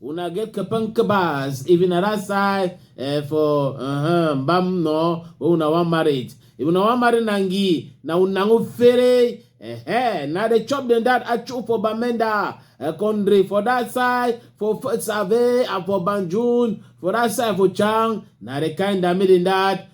una get kapan kabas if na that side eh, for uh-huh, mbam no wey una wan marriage if una wan marry nangi na una go fere eh, na dey chop dem that achu for bamenda eh, country for that side for F- save and for banjul for that side for chang na the kind that make dem that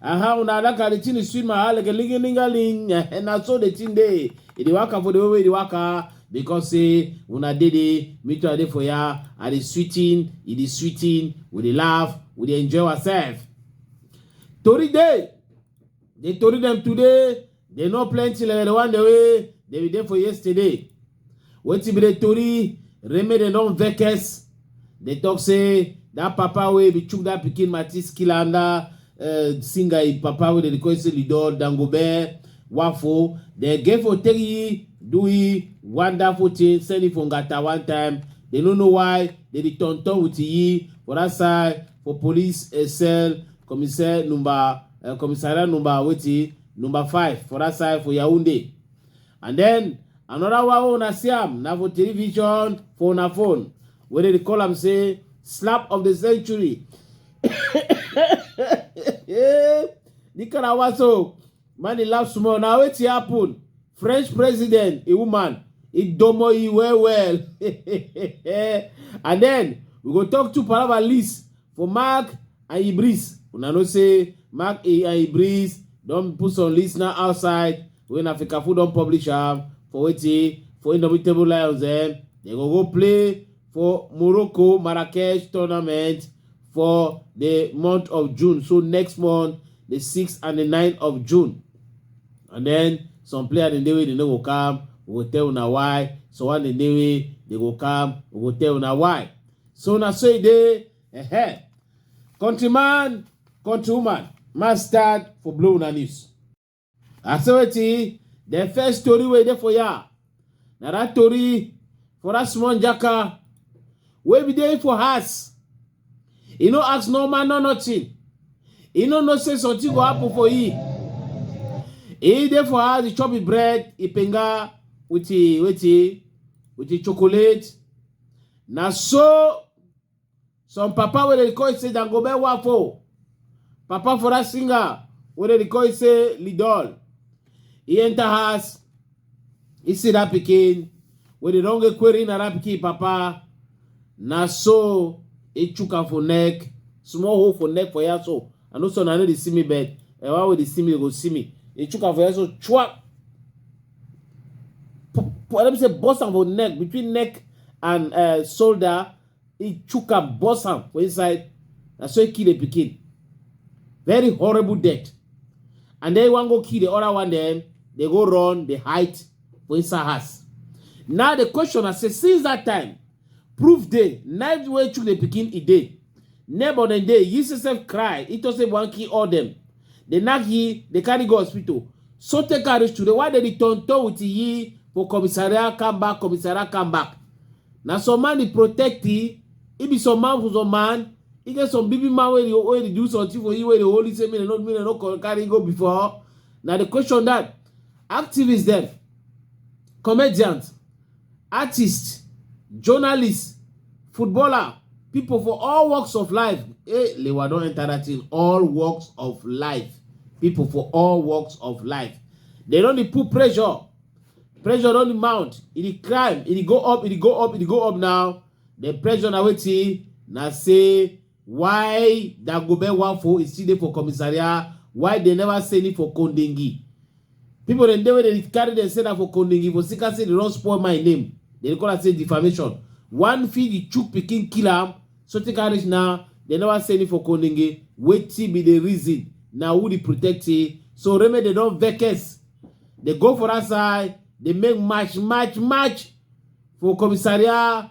aha una like how the thing dey sweet my heart like a lingalingaling eh, na so the thing dey e dey waka for the way wey e dey waka because say una dey there me too i dey for ya i dey sweeting e dey sweeting we dey laugh we dey enjoy ourselves tori dey the tori dem today dey no plenty like the one dey wey dey be dey for yesterday wetin be the tori remain dem don vex dey talk say that papa wey be chook that pikin matis kill am that uh, singer him papa wey dem dey call say lido dangobe wafo dem get for take yi do yi wonderful thing send him for ngata one time dem no know why dem dey turn turn with yi for that side for police uh, cell commissaire number uh, commissariat number wetin number five for that side for yaounde And then another one wey una see am na for television for una phone wey dey call am say slap of the century. the kind of one so man dey laugh small na wetin happen French president a woman e domo e well well and then we go talk to palava list for mark and Ibris. Una know say Mark A and Ibris don put some list now outside when Africa Food don publish am for wetin for Indomitable Lions dem. Eh? They go go play for Morocco Marrakesh tournament for the month of June. So next month, the 6th and the 9th of June. And then some players in the way they no go come, we go tell una why. So one in the way they go come, we go tell una why. So na so e dey Ehe. Countryman, countrywoman, mastered for blowing una news. I say wetin the first story wey dey for ya. Na that story for that small jaka wey be dey for house. E no ask no man no nothing. E no know say something go happen for e. E dey for house, e chop e bread, e penga with e wetin with e chocolate. Na so Some papa wey dey record say Dangobe Wafo, papa for that singer wey dey record say Lidol, he enter house, he see that pikin wey dey don get query na that pikin papa, na so he chook am for neck, small hole for neck for here so, I know so na no dey see me but eh, why would they see me? They go see me. They chook am for head so chwap. Let me say bust am for neck between neck and uh, shoulder. He chook am bust am for inside. Na so he kill the pikin. Very horrible death. And then one go kill the other one. Then they go run. They hide for inside house. Now the question I say since that time Proof dey, night wey chook the pikin e dey. Neighbor dem dey, he say sef cry, he talk say wan kill all dem. Dey knack he, dey carry go hospital. So take am reach today, why dey dey turn turn with he for commissariat come back, commissariat come back. Na some man dey protect he, he be some man for some man, he get some big big man wey dey wey dey do something for he wey dey hold he say make dem no make dem no co- carry he go before. Na the question that activist dem, comedians, artists, journalists, footballer, people for all walks of life. Hey, Lewa don enter that thing. All walks of life. People for all walks of life. They don dey put pressure. Pressure don dey mount. E dey climb. E dey go up. E dey go up. E dey go up now. The pressure na wetin na say Why Dagobert Wanfo is still dey for commissariat while dem never send him for Kondingi? People dem dey wey dey carry dem say na for Kondingi for Sika say dey don spoil my name. Dem dey call am say defamation. One fit the chook pikin kill am so take am reach now dem never send him for Kondingi. Wetin be the reason? Na who dey protect him? So Reme dey don vex. Dey go for that side dey make match match match for commissariat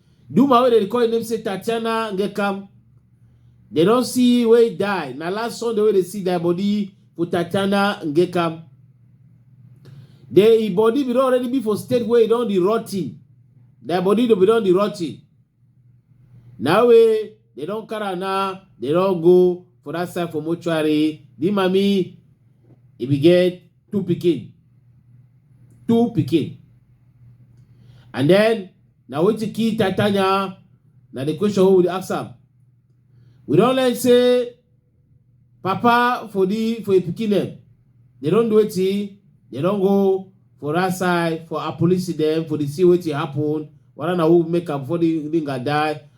The woman wey dey call im name say Tatiana Ngekam, dem don see wey die. Na last Sunday wey dey see die body for Tatiana Ngekam. The im body bin don already be for state wey e don dey rotten. Die body bin don dey rotten. Na wey dem don carry am now, dem don go for that side for mortuary. The mami e bin get two pikin two pikin and then na wetin kill titania na the question wey we dey ask am we don learn say papa for the for the pikin dem they don do wetin they don go for that side for her police dem for the see wetin happen whether na who make am before the ringa die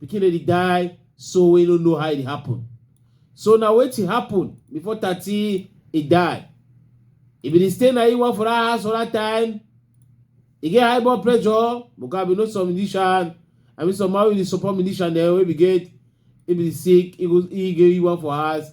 pikin dey die so we no know how e happen so na wetin happen before thirty e die e bin dey stay na iwa for that house for that time e get high blood pressure because i bin know some musician i mean some man wey dey support musician dem wey bin get e bin sick e go e get iwa for house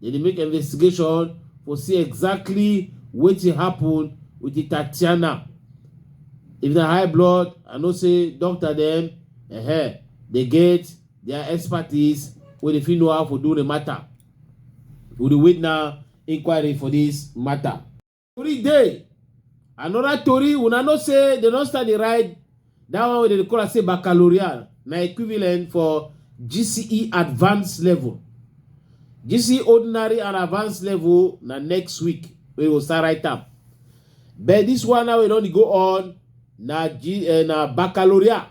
They dey make investigation for see exactly wetin happen with the Tatiana. If na high blood, I know say doctor dem uh, dey get their expertise wey dey fit know how for do the matter. We dey wait now inquiry for this matter. Tori dey. Another tori, una know say they don start dey ride that one wey dem dey call am say baccalaureate na equivalent for GCE advanced level. GCE ordinary and advanced level na next week wey go start write am. But this one now wey don dey go on na G, uh, na baccalaureate.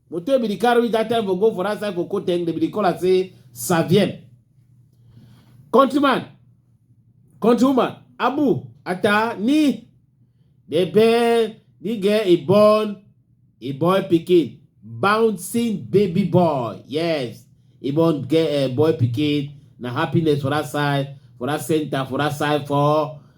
Moto be the car reach that time for go for that side for Koteng, they be the caller say Savien. Countryman, countrywoman, Abu, Ata, Ni, they bear, they get a born, a boy picking, bouncing baby boy. Yes, a born get a boy picking, na happiness for that side, for that center, for that side, for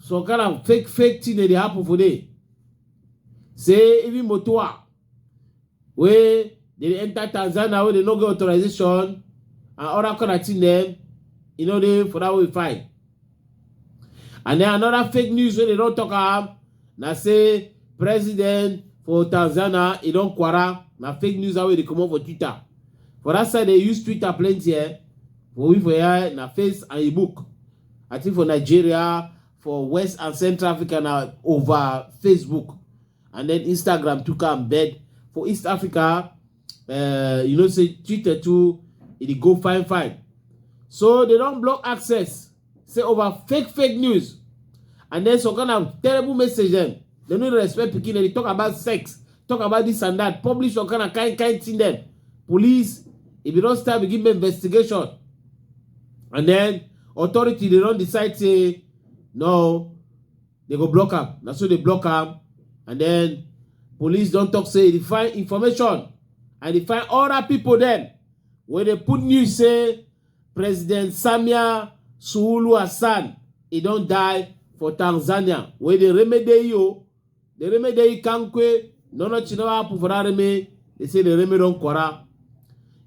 some kind of fake fake thing dey dey happen for there say even motoa wey dey dey enter tanzania wey dey no get authorization and other kind of thing dem e no dey for that way fine and then another fake news wey dey don talk am na say president for tanzania e don kwara na fake news wey dey comot for twitter for that side dey use twitter plenty eh for we for here na face and e book I think for Nigeria, for West and Central Africa now over Facebook and then Instagram took am bed for East Africa uh, you know say Twitter too it e go fine fine so they don't block access say over fake fake news and then some kind of terrible message them. They don't respect pikin they talk about sex talk about this and that publish all kind of kind kind thing dem police if you don start begin make investigation and then authority they don't decide say no they go block am na so they block am and then police don't talk say they find information and they find other people then when they put news say president samia suulu hassan he don't die for tanzania wey dey remedy you The reme dey kankwe, no no chinawa pufara reme. They say the reme don kwara.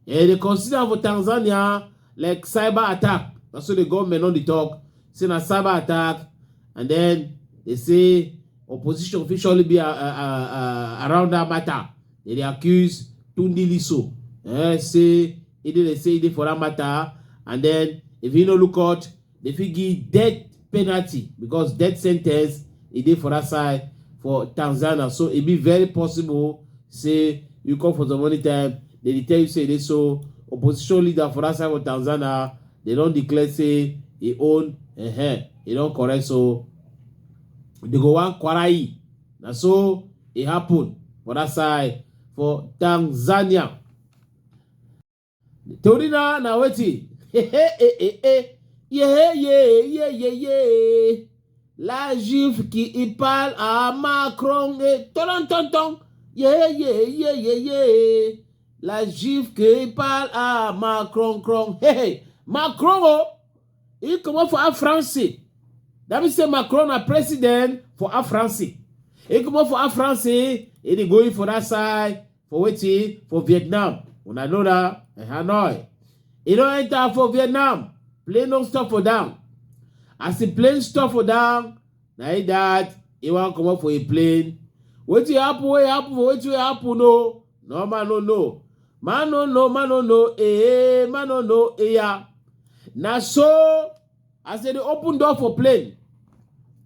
Eh, they consider am for Tanzania like cyber attack. That's what the government on the talk. Say na cyber attack, and then they say opposition fit surely be uh, uh, uh, uh, around that matter. They dey accuse Tunde Liso. Eh, say he dey dey say he dey for that matter, and then if he no look out, Dem fit give death penalty because death sentence e dey for that side for Tanzania so e be very possible say you come for some money time dem dey tell you say e dey so opposition leader for that side for Tanzania dem don declare say e own uh-huh, e don correct so they go wan kwarai na so e happen for that side for Tanzania. torí náà na wetin hehe hehe yehe yehe yehe yehe la juive qui y parle à Macron et ton ton ton yehe yehe yehe yehe la juive qui y parle à Macron cron hehe Macron oh he comot for our France that means say Macron na president for our France he comot for our France he dey going for that side for wetin for vietnam una know na eh, hanoi e don enter for vietnam plane no stop for down as the plane stop for down na it that e wan comot for a plane wetin happen wey happen for wetin wey happen o no man no know man no know man no know eh man no know eya na so as dem dey open door for plane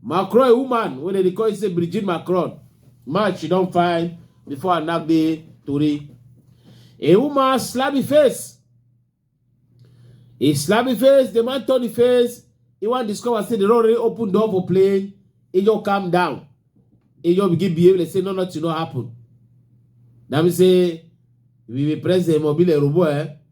macron a woman wey dem dey call say brigitte macron match she don find before her knack dey tori a woman slap the face e slap the face the man turn the face e wan discover say dem don already open door for plane e just calm down e just begin behave like say no nothing no happen na be say we be president mobile robo eh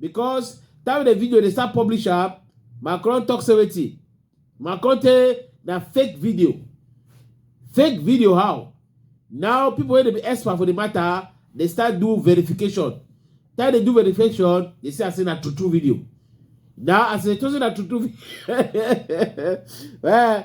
because time the video dey start publish am macron talk say wetin macron tey na fake video fake video how now people wey dey be expert for the matter dey start do verification time dey do verification dey see am say na true true video now as e dey talk say na true true video eh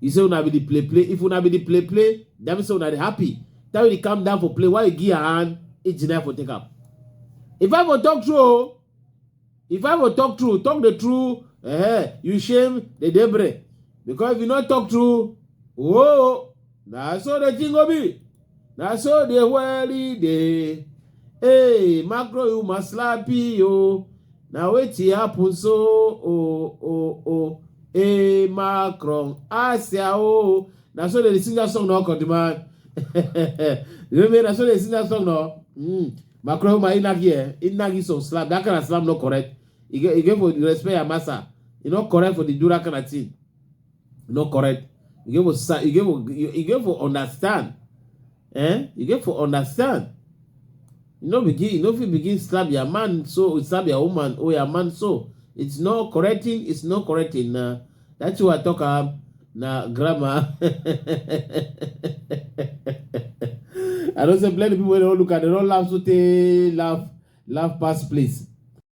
You say una be the play play. If una be the play play, that means una dey happy. That way they calm down for play. Why you give her hand? It's deny for take up. If I for talk true, oh, if I for talk true, talk the truth. Eh, you shame the debris. Because if you not talk true, oh, Na so the thing go be. Na so the world e dey. Hey, macro you must slap yo. Na wetin happen so oh oh oh. Hey, Macron, Asia oh. Na so they sing that song now, come demand. you know me, na so they sing that song now. Mm. Macron, my inagi eh, inagi some slap. That kind of slap not correct. You get, you get for the respect your master. You not correct for the do that kind of thing. you no correct you get for sa- you get for you, you get for understand eh you get for understand you no begin you no fit begin slap your man so slap your woman or your man so it's no correcting it's no correcting na that's why i talk am na grammar i know say plenty people wey don look at dem don laugh so tey laugh laugh pass place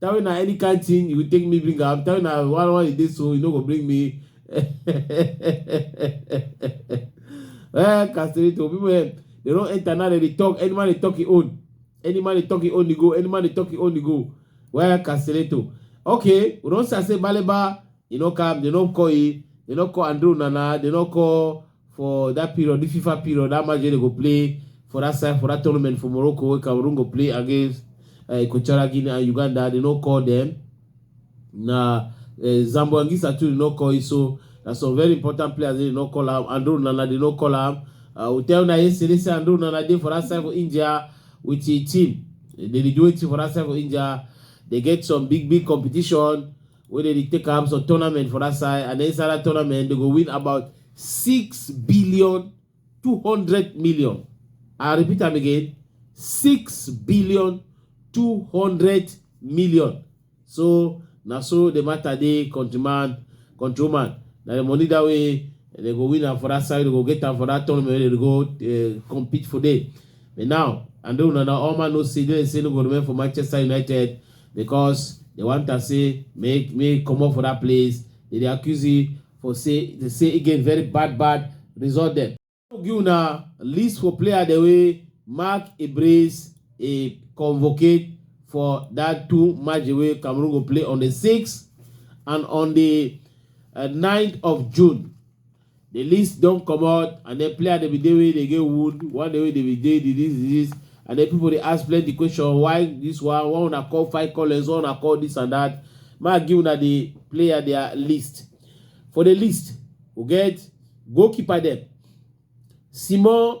Tell me na any kind thing you take me bring am. Tell me na why why you dey so you no go bring me. eh, Casterito, people eh, they don't enter now. They dey talk. Any man they talk his own. Any man they talk his own. They go. Any man they talk his own. They go. Where Casterito? Okay, we don't say say Baleba. You know, come. They don't call it. They don't call Andrew Nana. They don't call. For dat period, di Fifa period, dat match wey dem go play for dat side, for dat tournament for Morocco wey Cameroon go play against eh, Equatorial Guinea and Uganda, dem no call dem. Na eh, Zambo Anguissa too dem no call him, so na some very important players wey dem no call am. Andre Onana dem no call am. I will tell una yesterday say Andre Onana dey for dat side for India with him team. Dem dey do wetin for dat side for India. Dem get some big big competition. wey dey dey take am some tournament for that side and then inside that tournament they go win about six billion two hundred million i repeat am again six billion two hundred million so na so the matter dey countryman countrywoman na the money that way they go win am for that side they go get am for that tournament wey they dey go uh, compete for there but now and then una na all man know say they say no go remain for manchester united because they want to say make me come up for that place they dey accuse you for say they say again very bad bad result dem give una list for player the way mark a brace a convocate for that two match wey cameroon go play on the 6th and on the uh, 9th of june The list don comot and then player dey be dey wey dey get wound, one day wey dey be dey disease disease and then people dey ask plenty question why this one, why una call five callers, why una call this and that. Make I give una the player their list. For the list, we get goalkeeper dem, Simon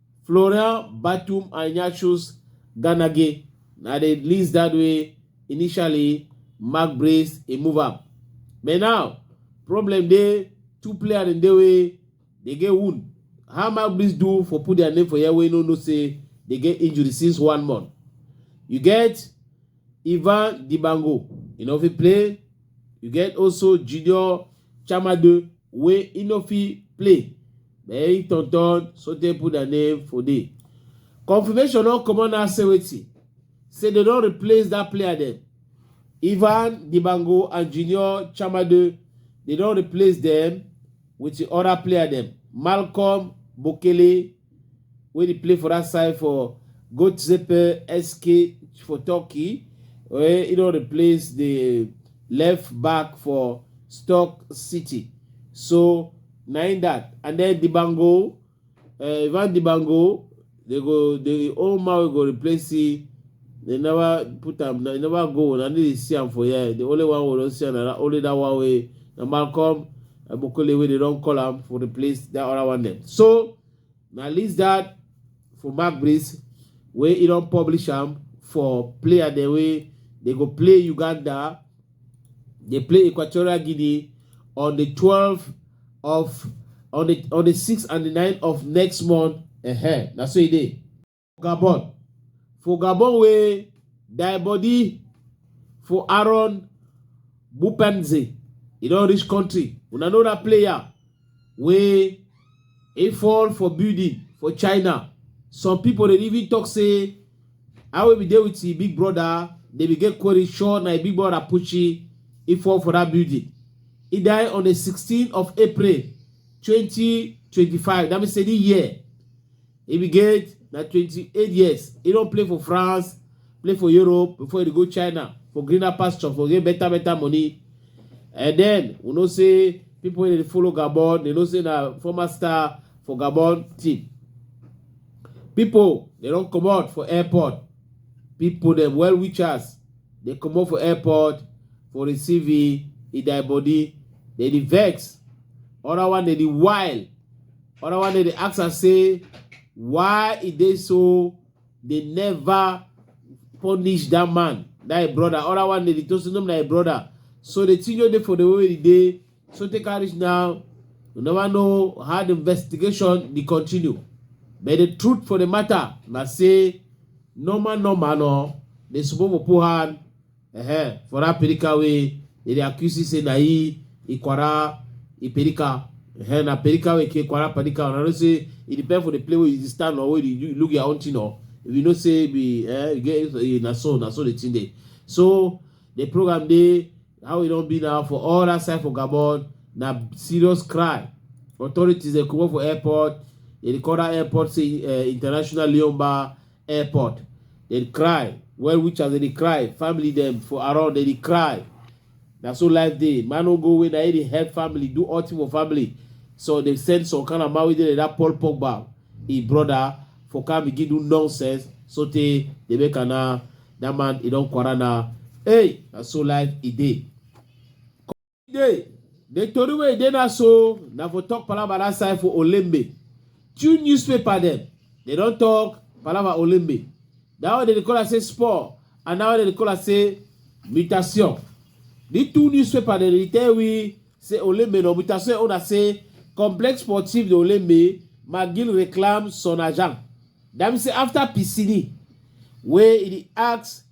Florian Batum Ignatius Ganage na the list that way initially Mark Brace he move up. But now problem dey two players in the way they get wound. How Mark Brace do for put their name for here wey no know say they get injury since one month. You get Ivan Dibango, you know if he play You get also Junior Chamade wey e no fit play but he turn turn sotey put their name for there. Confirmation don comot now say wetin say dem don replace that player dem. Ivan Dibango and Junior Chamade dem don replace dem with the other player dem Malcolm Bokele wey dey play for that side for Götzepe SK for Turkey, where he don replace the left back for Stoke City. So na im that. And then Dibango, uh, Ivan Dibango, they go the old man wey go replace him. They never put am, they never go. Na dey see am for here. The only one we don see am na that, only that one wey na Malcolm Ebokole wey dey don call am for replace that other one dem. So na list that for Mark Breeze wey e don publish am for player dem wey dey go play Uganda, dey play Equatorial Guinea on the twelve of on the on the six and the nine of next month. Uh-huh. Na so e dey. Gabon. For Gabon wey die body for Aaron Bupenze. E don reach country. Una know that player wey e fall for building for China. Some people dey even talk say how we dey with him big brother, they begin query sure na him big brother Pucci e fall for that building. He died on the 16th of April 2025. That means say this year E be get na 28 years. E don play for France, play for Europe before e dey go China for greener pasture for get better better money. And then we know say people wey dey follow Gabon, they know say na former star for Gabon team. People they don comot for airport. People dem well wishers dey comot for airport for receiving Idai body. They dey vex. Other one dey dey wild. Other one dey dey ask am say why e dey so dey never punish that man, that him brother. Other one dey dey talk say no be na him brother. So the thing wey dey for the way e dey so take am reach now. We never know how the investigation dey continue. But the truth for the matter na say normal normal no dey suppose for put hand Uh-huh. For that Perika way, they accuse you say na he Ikwara Iperika. Uh-huh. Na Perika way ke Ikwara Perika. And I don't say it depends for the play where you stand or where you look your own thing or if you know say be eh, you get eh, na so na so the thing dey. So the program dey how e don be now for all that side for Gabon na serious cry. Authorities dey comot for airport. They dey call that airport say uh, international Leon Bar airport they dey cry well witchers they dey cry family them for around they dey cry na so life dey man no go away na he dey help family do all thing for family so they send some kind of man wey dey like that paul pogba him brother for come begin do nonsense so tey they make am na that man he don quarrel na hey na so life e dey. Today, the tori wey dey na so na for talk palava that side for Olembe. Two newspaper dem, they don talk palava Olembe. That one they call am say sport and that one they call am say mutation. The two newspaper dem dey tell we say Olembe no mutation own na say complexe sportif de Olembe Magil reclame son agent. That mean say after Piscini wey e dey ask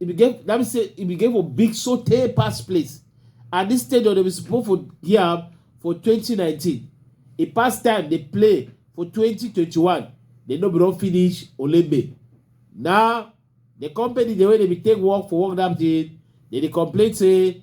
e bin get that mean say e bin get for big sotey pass place and dis stadium dem bin suppose for give am for 2019 e pass time dey play for 2021 dem no bin don finish olembe now the company the way dem bin take work for work that day dem dey complain say